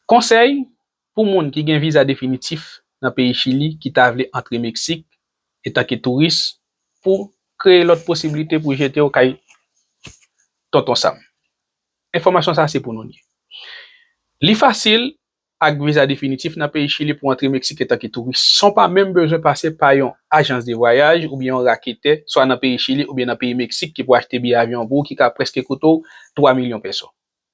Konsèy pou moun ki gen viza definitif nan peyi Chili ki ta vle antre Meksik etanke touris pou kreye lòt posiblite pou jete w kay Tonton Sam. Enfòmasyon sa se pou nou li. Li fasil ak viza definitif nan peyi Chili pou antre Meksik etanke touris san w pa menm bezwen pase pa yon ajans de vwayaj oubyen yon raketè swa nan peyi Chili oubyen nan peyi Meksik ki pou achte biyè avyon pou w ki ka prèske koute w 3 milyon pèso.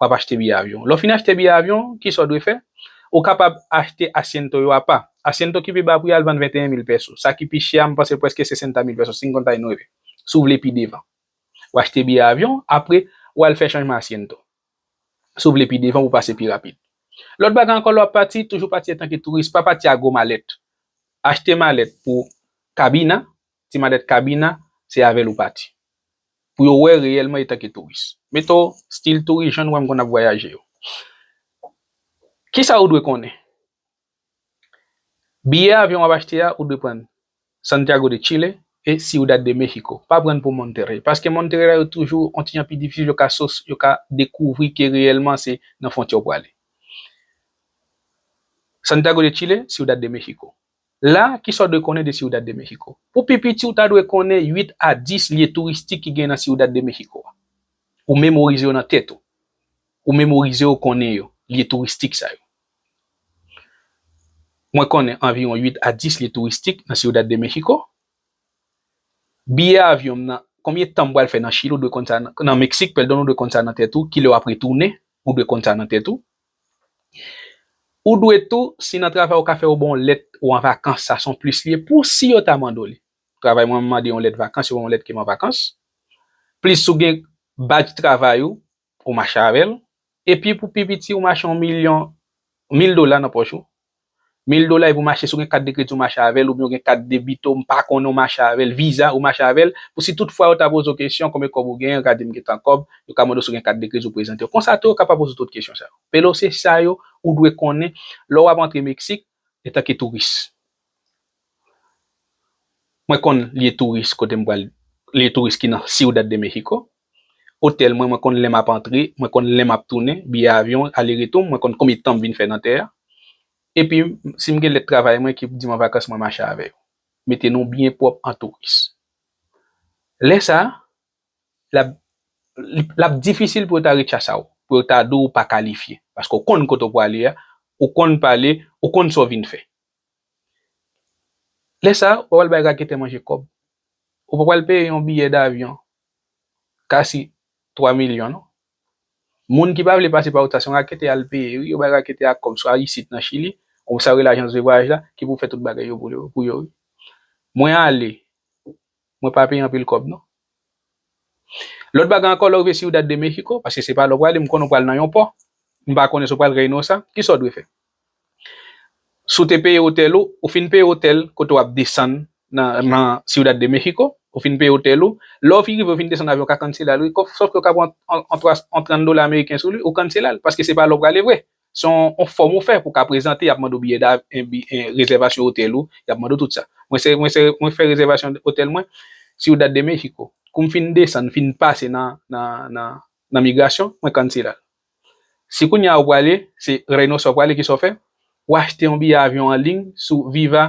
w ap achte biyè avyon. Lè w fin achte biyè avyon, ki sa w dwe fè? Ou kapab achte asyento yo apa. Asyento ki pi ba pri a, l vann 21 mil pèso. Sa ki pi chè a, m panse prèske 60 mil pèso, si m konta nou rele. Si w vle pi devan. Ou achte biyè avyon, apre, ou al fè chanjman asyento. Si w vle pi devan pou w pase pi rapid. Lòt bagay ankò, lè w ap pati, toujou pati antanke touris. Pa pati ak gwo malèt. Achte malèt pou kabina, Ti madèt Cabina, se avè l ou pati. Pou yo wè reyèlman etanke touris. Mete w stil touris jan nou wè m konn ap vwayaje yo. Kisa ou dwe konnen? Biyè avyon w ap achte a ou dwe pran Santiago de Chile e Ciudad de México. Pa pran pou Monterrey. Paske Monterrey la yo toujou on ti jan pi difisil yo ka so yo ka dekouvri ke reyèlman se nan fwontyè w prale. Santiago de Chile, Ciudad de México. La, kisa w dwe konnen de Ciudad de México? Pou pi piti, ou ta dwe konnen 8 a 10 lye touristik ki gen nan Ciudad de México a. Ou memorize yo nan tèt ou. Ou memorize yo konnen yo, lye touristik sa yo. Mwen konnen anviwon 8 a 10 lye touristik nan Ciudad de México. Biyè avyon m nan, konbyen tan m pral fè nan Chili, ou dwe konn sa nan, nan Meksik, pèdon, ou dwe konn sa nan tèt ou. Kilè w ap retounen, ou dwe konn sa nan tèt ou. Ou dwe tou, si nan travay ou ka fè yo ba w lèt ou an vakans, sa son plis li ye pou si yo ta mande w li. Travay mwen mande yon lèt vakans, yo ba m yon lèt ke m an vakans. Plis si w gen badj travay ou, ou mache avè l. Epi pou pi piti ou mache yon milyon, mil dola nan pòch ou, Mil dola epi ou mache si w gen kat de kredi ou mache avèl oubyen ou gen kat debito m pa konnen ou mache avèl viza ou mache avèl pou si tout fwa yo ta poze w kesyon konbyen kòb ou genyen gade m gentan kòb yo ka mande w si w gen kat de kredi ou prezante w konsa tou yo ka pa poze w tout kesyon sa yo Pero se sa yo ou dwe konnen lè w ap antre Meksik etanke touris mwen konn lye touris kote m pral lye touris ki nan Ciudad de México Otèl mwen, mwen konn lè m ap antre, mwen konn lè m ap tounen, biyè avyon, ale retou m, mwen konn konbyen tan m vin fè nan tè a. Epi, si m gen lèt travay mwen ki di m an vakans mwen mache avè yo. Mete nou byen pwòp an touris. Lè sa, l ap difisil pou yo ta rechasa w, pou yo ta di w ou pa kalifye. Paske ou konn kote ou prale a, ou konn pale, ou konn sa w vin fè. Lè sa a, ou pa pral bay raketè manje kòb. Ou pa pral peye yon biyè davyon kasi 3 milyon non. Moun ki pa vle pase pa ou sa se yon raketè y al peye wi, yo bay raketè a kòb swa isit nan Chili ou sa yo rele ajans de vwayaj la ki pou fè tout bagay yo pou yo wi. Mwen ale. Mwen pa peye anpil kòb non. Lòt bagay ankò, lè w rive Ciudad de México, paske se pa la w prale, m konnen w pral nan yon pò, m pa konnen si w pral Reynosa, ki sa w dwe fè? Si w te peye otèl ou, ou fin peye otèl kote w ap desann nan Ciudad de México, ou fin peye otèl ou, lè w fin rive ou fin desann avyon w ka kansela l wi, sòfke w ka pran yon 30 dola ameriken sou li, ou kansela l, paske se pa la w prale vre, Se yon fòm ou fè pou ka prezante, y ap mande w biyè dav, rezèvasyon otèl ou, y ap mande w tout sa. Mwen se, mwen se, mwen fè rezèvasyon otèl mwen, Ciudad de México. Kou m fin desann, fin pase nan, nan, nan, nan migrasyon, mwen cancela l. Si kounye a ou prale, se Reynosa ou prale, kisa w fè? Ou achte yon biyè avyon an liy sou Viva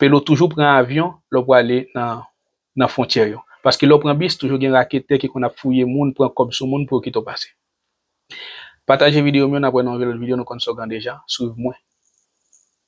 Pelo toujou pran avyon lè w prale nan fwontyè yo. Paske lè w pran bis toujou gen raketè ki konn ap fouye moun pran kòb sou moun pou yo kite w pase. Pataje video m yo nap wè nan yon lòt video nou konn slogan deja, swiv mwen.